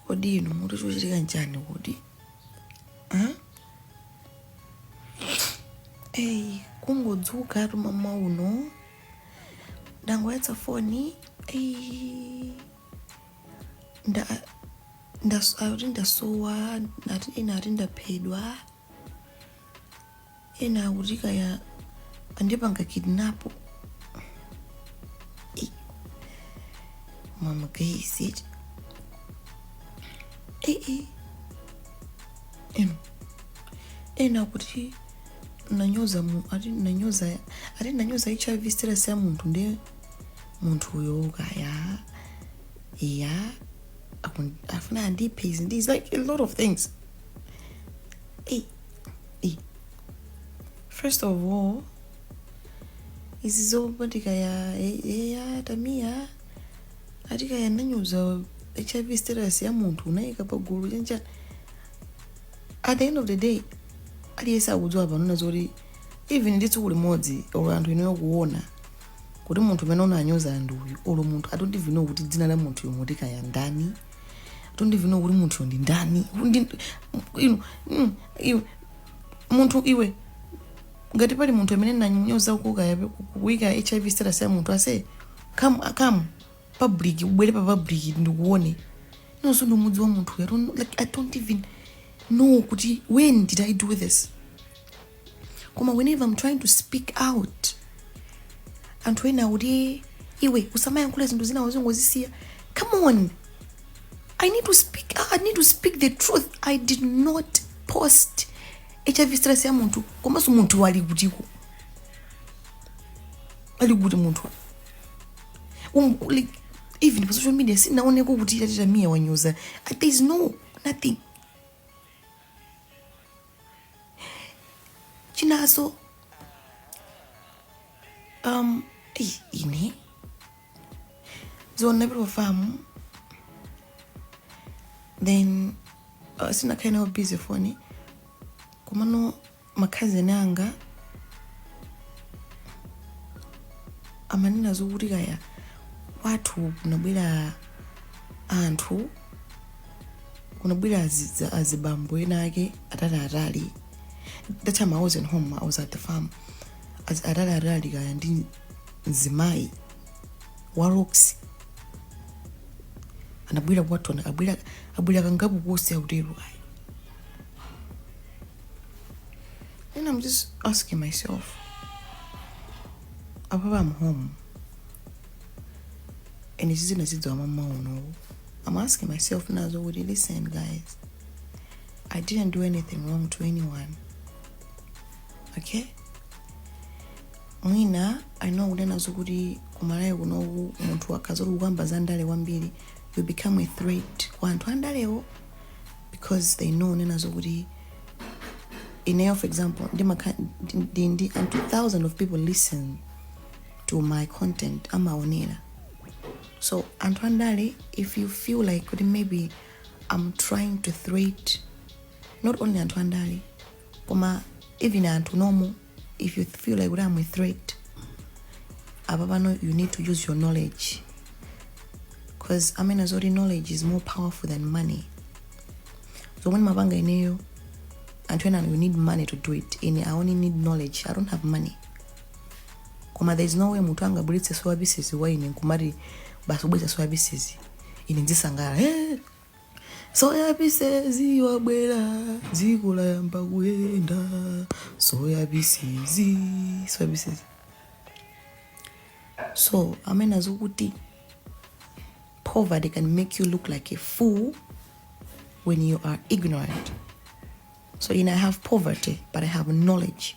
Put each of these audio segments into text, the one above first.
kodi inu mukuti chochitika nchani kodi Huh? eyi kungodzuka tu mmawa uno ndangoyatsa foni eyi nda ndas- akuti ndasowa nati ena ati ndaphedwa Ena akuti kaya andipanga kidnap. Ei. Mama guys it. Ei ei. Eno. Ena akuti nanyoza mu ati nanyoza ati nanyoza HIV status ya munthu ndiye munthuyo kaya ya akun- afuna andiphe izi ndi izi, like a lot of things. Ei. first of all izi zoti ati kaya eya Tamia ati kaya nanyoza hiv status ya munthu unayika pagulu chanichani at the end of the day aliyense akudziwa panona zoti even ndi tsiku limodzi olo anthu ineyo kuona kuti munthu umene unanyoza ndi uyu olo munthu I don't even know kuti dzina la munthuyo ati kaya ndani I don't even know kuti munthuyo ndi ndani Ndi- inu mm, iwe munthu iwe ngati pali munthu amene nanyoza kuka kuika hiv status ya munthu ase come come public ubwere pa public ndikuone inenso ndimudziwe munthu I don't, like, i don't even know kuti when did i do this koma whenever I'm trying to speak out anthu ena akuti iwe usamayankhule zinthu zina uzingozisiya come on i need to speak out. i need to speak the truth i did not post hiv status ya munthu komanso munthuyo ali kutiko ali kuti munthu um, like, even pa social media sinaoneko kuti ati Tamia wanyoza there is no nothing chinaso um eyi, ine dzulo ndinali ku famu then uh, sinakhale nayo busy foni komano makhazeni anga amanena zokuti kaya kwathu kunabwera anthu kunabwera azi- azibambo enaake ataliatali that time i wasn't home i was at the farm Az- ataliatali kaya ndi mzimayi wa roxy anabwera kwathu ana- abwera abwera kangapo koz akutero ayi Then I'm just asking myself, apapa I'm home. And izi ndazidziwa mmawa uno. I'm asking myself nena zokuti listen, guys, I didn't do anything wrong to anyone. Okay? mwina i know kunena zokuti kumalawi kunoku munthu akazoti kukamba za ndale kwambiri you become a threat kwa anthu andalewo because they know nena zokuti ineyo for example ndimakha- ndi- ndi ndi anthu thousand of people listen to my content amaonera so anthu andale if you feel like kuti maybe i'm trying to threat not only anthu andale koma even anthu normal if you feel like kuti am a threat apa pano you need to use your knowledge because amanena zoti knowledge is more powerful than money zomwe ndimapanga ineyo anthu ena you need money to do it ine i only need knowledge i don't have money koma there is no way munthu angabweretse soya pieces kwa ine nkumati basi wabweretsa soya pieces ine ndizisangalala eh, soyabisezi wabwera dziko layamba kuyenda soyabisezi soyabisezi so amene azokuti poverty can make you look like a fool when you are ignorant so you know, i have poverty but i have knowledge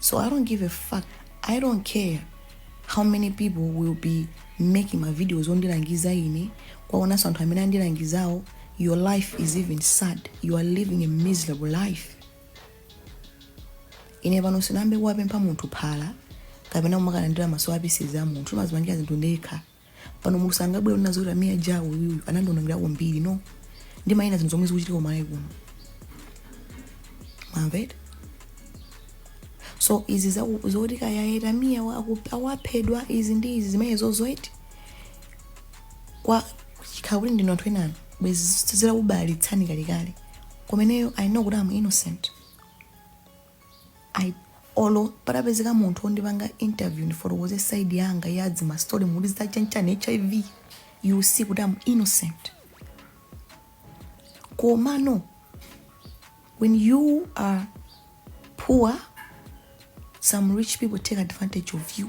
So I don't give a fuck. I don't care how many people will be making my videos ondilangiza ine kwaonanso anthu amene andilangizawo your life is even sad you are living a miserable life ine pano sinayambe kukapempha munthu phala kapena kumakalandira ma soya pieces a munthu ndimazipangira zinthu ndekha pano munthu sangabwere kunena zoti Tamia Ja uyuyu anandionongera kwambiri no ndimanena zinthu zomwe zikuchitika kumalawi kuno mwamvera so izi zaku- zoti kaya a Tamia wa- aku- awaphedwa izi ndi izi zimenezo zoti kwa chikhala kuti ndinu anthu enanu bwezi zitakubalalitsani kalekale koma ineyo i know kuti am innocent I, olo patapezeka munthu ondipanga interview ndifotokoze side yanga ya dzima story mukuti za chanichani hiv you will see kuti am innocent komano when you are poor some rich people take advantage of you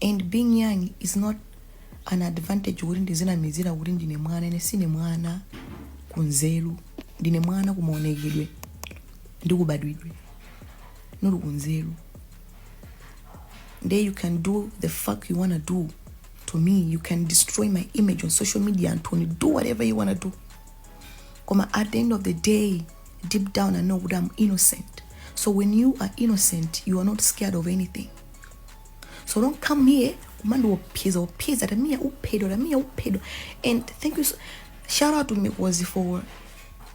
And being young is not an advantage kuti ndizinamizira kuti ndine mwana ine sine mwana kunzeru ndine mwana kumaonekedwe ndi kubadwidwe not kunzeru nde you can do the fuck you wanna do to me you can destroy my image on social media anthu inu do whatever you wanna do koma at the end of the day deep down i know kuti am innocent so when you are innocent you are not scared of anything so don't come here kumandiopyeza opyeza tamiya uphedwa tamiya uphedwa and thank you so, shout out to mikozi for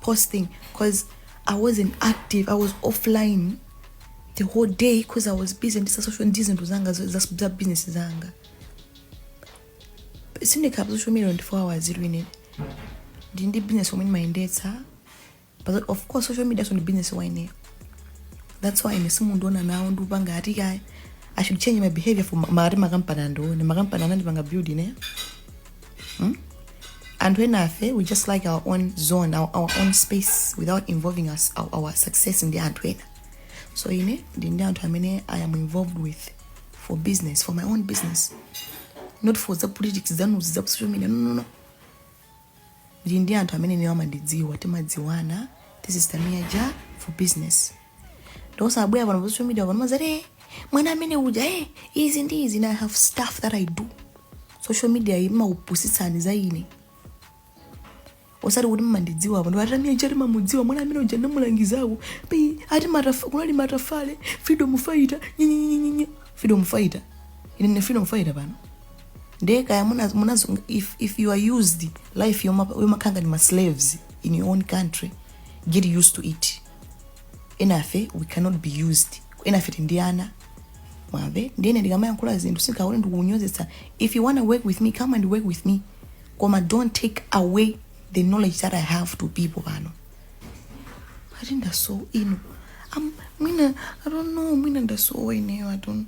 posting because i wasn't active i was offline the whole day because i was busy ndi pa social ndi zinthu zanga za- za za business zanga sindikhala pa social media 24 hours ineyo ndili ndi business omwe ndimayendetsa But of course social media so ndi business wa ineyo. That's why ine simundiona nane ndikupanga ati kaya. I should change my behavior for makampani makampani andione. Makampani sanandipanga build ineyo. Anthu enafe we just like our own zone, our, our own space without involving us, our, our success ndi anthu ena. So ine ndili ndi anthu amene I am involved with for business, for my own business. Not for the politics zanuzi za social media. No, no, no. ndili ndi anthu amene ineyo amandidziwa timadziwana this is tamia ja for business osabwera pano pa social media pano muziti "Eh, mwana amene uja eh, izi ndi izi and i have stuff that i do social media iyi imakupusitsani za ine osati kuti mmandidziwa apa ndipo tamia chati mamudziwa mwana amene uja ndamulangizako pi ati matafa- kunali matafale freedom fighter nyenyenyenyenye freedom fighter ine ndine freedom fighter pano ndiye kaya muna- munazo- if, if you are used life yoma- yomakhala ngati maslaves in your own country get used to it enafe we cannot be used enafe si ndi ana mwamve ndiye ine ndikamayankhula zinthu si nkhani ndikunyozetsa if you wanna work with me come and work with me koma don't take away the knowledge that i have to people pano ati ndasowa ino Am- mwina i don't know mwina ndasowa ineyo i don't